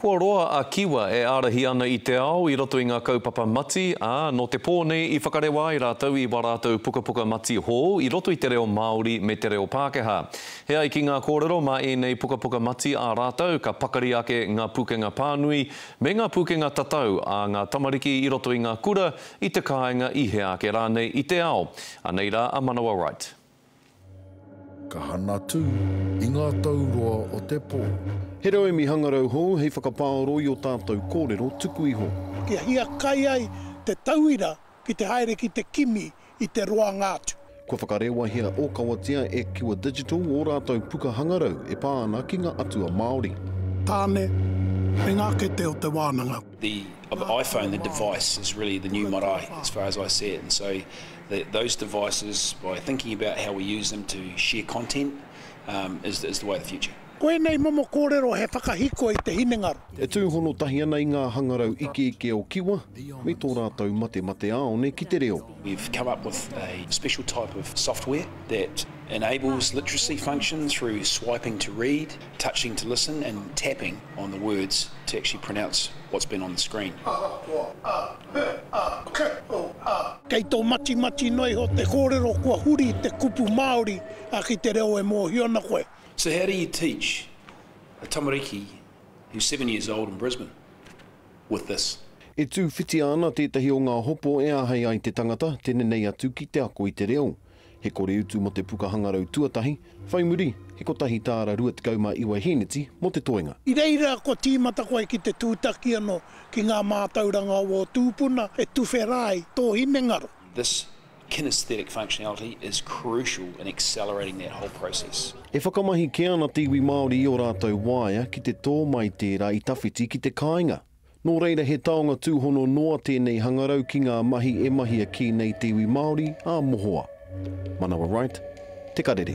Kua roa a Kiwa e ārahi ana i te ao i roto i ngā kaupapa mati, ā, nō te pō nei i whakarewa ai rātou i wā rātou pukapuka mati hou i roto i te reo Māori me te reo Pākehā. He ai ki ngā kōrero mā ēnei pukapuka mati ā rātou ka pakari ake ngā pūkenga pānui me ngā pūkenga tatau ā ngā tamariki i roto i ngā kura, i te kāinga, i hea ake rānei i te ao. Anei rā a Manawa Wright. Ka hana tū i ngā tau roa o te pō. He rauemi hangarau hou hei whakapaoro i o tātou kōrero tuku iho. Kia hiakai ai te tauira ki te haere ki te kimi i te roanga atu. Kua whakarewahia ōkawatia e Kiwa Digital ō rātou puka hangarau e pā ana ki ngā atua Māori. Tāne, me ngā kete o te wānanga. The of the iPhone, the device, is really the new marae as far as I see it. And so That those devices, by thinking about how we use them to share content, um, is, is the way of the future. Ko ēnei momo kōrero he whakahiko i te hinengaro. E tūhono tahi ana i ngā hangarau ikeike o Kiwa me tō rātou matemate āone ki te reo. We've come up with a special type of software that enables literacy function through swiping to read, touching to listen and tapping on the words to actually pronounce what's been on the screen. Kei tō matimati noa iho te kōrero kua huri i te kupu Māori ki te reo e mōhio ana koe. So how do you teach a tamariki who's seven years old in Brisbane with this? E tūwhitia ana tētahi o ngā hopo e āhei ai te tangata te nenei atu ki te ako i te reo. He kore utu mō te puka hangarau tuatahi, whai muri, he kotahi tāra 29 hīneti mō te toenga. I reira kua tīmata koe ki te tūtaki anō ki ngā mātauranga o ō tūpuna e tuwhera ai tō hinengaro. This kinaesthetic functionality is crucial in accelerating that whole process. E whakamahi kē ana te iwi Māori i ō rātou waea ki te tō mai tērā i tawhiti ki te kāinga. Nō reira he taonga tūhono noa tēnei hangarau ki ngā mahi e mahia kī nei te iwi Māori ā mohoa. Manawa Wright, Te Karere.